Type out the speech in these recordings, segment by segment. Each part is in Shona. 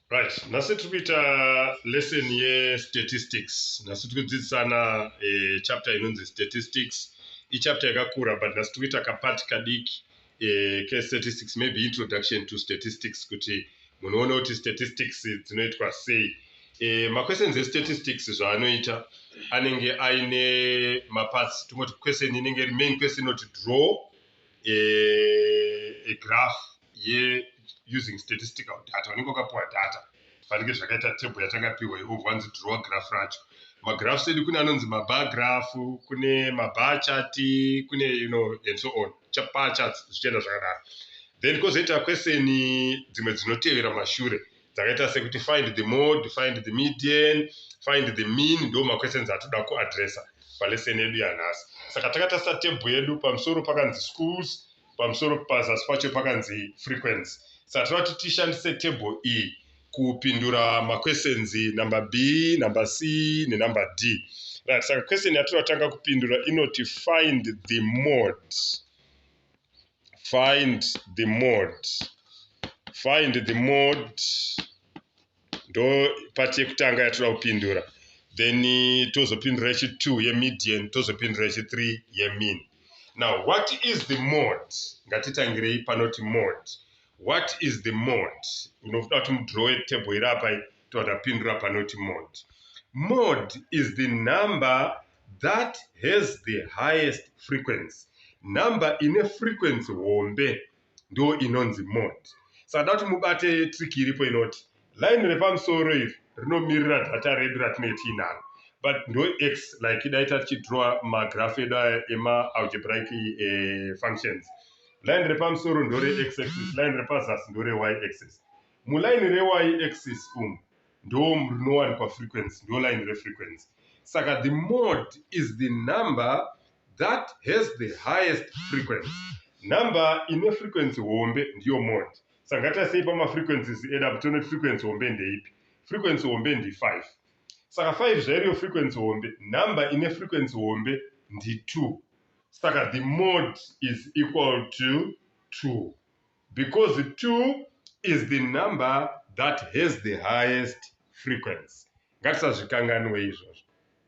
right nhasi tiri kuita lesson yestatistics nhasi tiri kudzidzisana eh, chapter inonzi statistics ichapter yakakura but nhasi tiri kuita kapati kadiki eh, case statistics maybe introduction to statistics kuti munoona kuti statistics dzinoitwa sei eh, maquestions estatistics zvaanoita anenge aine maparts tingoti question inenge iri main question inoti draw eh, a graph ye using statistical data unenge wakapiwa data zvifanike zvakaita table yatakapihwa ivo vanzi draw graph racho magraphs edu kune anonzi mabar graph kune mabar chart kune you know and so on bar charts zvichienda zvakadaro then kozoita question dzimwe dzinotevera mashure dzakaita sekuti find the mode find the median find the mean ndo maquestions atoda kuadressa palesson yedu yanhasi saka takatarisa table yedu pamusoro pakanzi schools pamusoro pazasi pacho pakanzi frequency saka tinoda kuti tishandise table iyi e, kupindura maquestions number b number c nenumber d right saka question yatiratanga kupindura inoti find the mode find the mode find the mode ndo pati yekutanga yatoda kupindura then tozopindura yechi2 yemedian tozopindura yechi3 yemin now what is the mode ngatitangirei panoti mode what is the mode unoda kuti mudrowe table iri apai toda pindura panoti mode mode is the number that has the highest frequency number ine frequency hombe ndo inonzi mode. Saka ndoda kuti mubate trick iripo inoti line repamusoro iri rinomirira data redu ratinenge tiinaro but ndo x like dai tatichidrawa magraph edu aya emaalgebraic eh, functions line repamusoro ndore x axis line repazasi ndore y axis muline rey axis umu ndo rinowanikwa frequency ndo line refrequency saka the mode is the number that has the highest frequency. Number ine frequency hombe ndiyo mode. Saka ngatitasei pamafrequencies edu apo tione kuti frequency hombe ndeipi. Frequency hombe ndi 5. Saka 5 zvairiyo frequency hombe, number ine frequency hombe ndi 2. Saka the mode is equal to 2. because two is the number that has the highest frequency. Ngatisazvikanganwe izvozvo.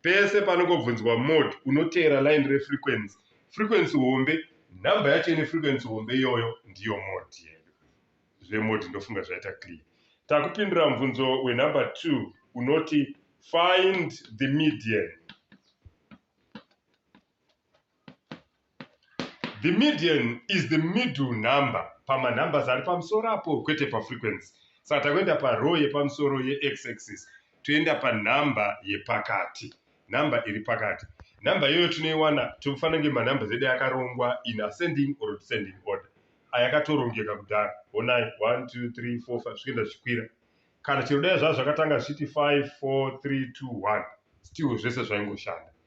Pese panongobvunzwa mode unoteera line refrequency. Frequency hombe, number yacho ine frequency hombe iyoyo ndiyo mode yedu. Zvemode ndofunga zvaita clear. Takupindura mubvunzo wenumber 2 unoti find the median The median is the middle number pama numbers ari pamusoro apo kwete pa frequency. Saka takuenda pa row yepamusoro ye x axis toenda pa number yepakati. Number iri pakati. Number iyoyo tinoiwana tofana kunge ma numbers edu akarongwa in ascending or descending order. Ayakatorongeka kudhara. Honai 1 2 3 4 5 zvikuenda zvichikwira. Kana chero dai zvazvo zvakatanga zvichiti 5 4 3 2 1 still zvese zvaingoshanda.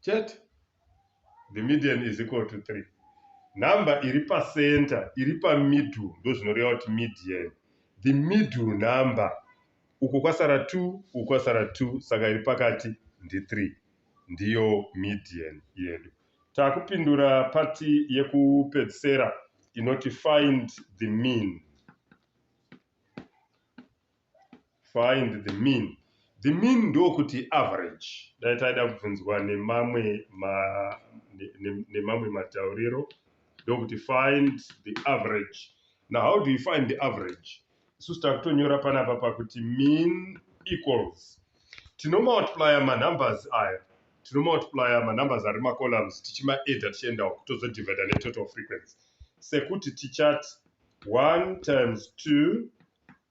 chete the median is equal to 3 number iri pacenter iri pamiddle ndozvinoreva kuti median the middle number uko kwasara 2 uko kwasara 2 saka iri pakati ndi3 ndiyo median yedu takupindura pati yekupedzisera inoti find the mean Find the mean. The mean ndokuti average. Dai taida kubvunzwa nemamwe ma, ne, ne, nemamwe matauriro ndokuti find the average. Now how do you find the average? Isusu takutonyora panapa pakuti mean equals. Tinomultiplier manumbers aya. Tinomultiplier manumbers ari macolumns tichimaedha tichienda uku tozodivida netotal frequency. Sekuti tichati 1 times 2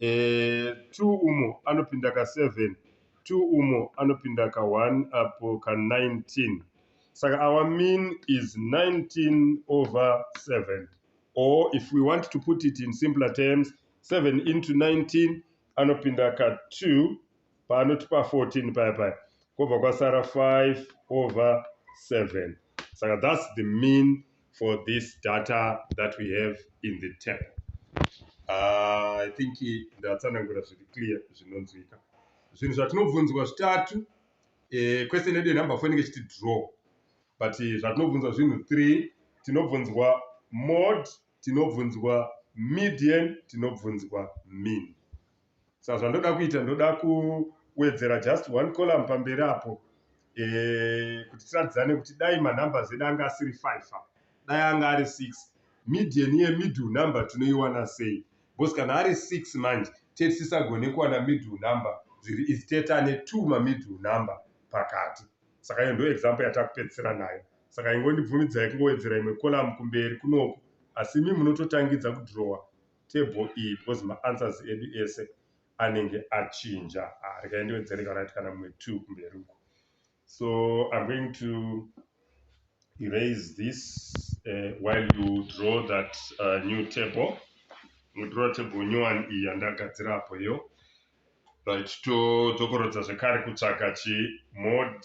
eh, two umo anopinda ka seven two umo anopinda ka one apo ka nineteen saka our mean is nineteen over seven or if we want to put it in simpler terms seven into nineteen anopinda ka two paanoti pa 14 paya paya kobva kwasara 5 over 7 saka thats the mean for this data that we have in the table uh, i think ndatsanangura zviri clear zvinonzwika zvinhu zvatinobvunzwa zvitatu eh, question yedu yenumber four inenge chiti draw but eh, zvatinobvunzwa zvinhu three tinobvunzwa mod tinobvunzwa median tinobvunzwa mean sa zvandoda kuita ndoda kuwedzera just one column pamberi apo eh, kuti tiratidzane kuti dai manumbers edu anga asiri five apa dai anga ari six median yemiddle number tinoiwana sei bcause kana ari six manje tete tisagone kuwana middle number zviri izi tete ane two mamiddle number pakati saka iyo ndo example yatakupedzisira nayo saka ingondibvumidzai kungowedzera imwe column kumberi kunoku asi mi munototangidza kudrowa table iyi because maanswers edu ese anenge achinja ah, rega indiwedzere kana kuti kana mumwe two kumberi uko so i'm going to erase this uh, while you draw that uh, new table mudraw table new one iyi yandagadzira apo iyo right todzokorodza zvekare kutsvaga chimod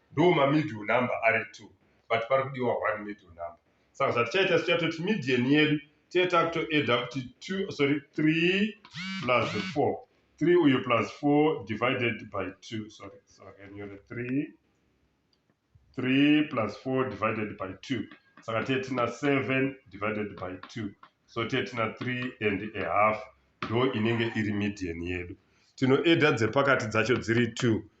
ndo mamiddle number ari two but pari kudiwa one middle number saka zvatichaita sichatoti median yedu tiye takutoeda kuti two sorry three plus four three uyu plus four divided by two sorry sakanyore three three plus four divided by two saka tiye tina seven divided by two so tiye tina three and a half ndo inenge iri median yedu tinoeda dzepakati dzacho dziri two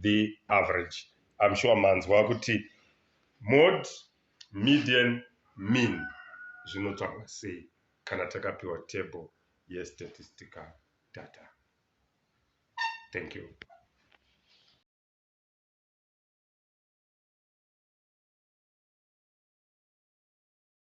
the average im sure manzwa kuti mod median mean zvinotsvagwa sei kana takapiwa table yestatistical data thank you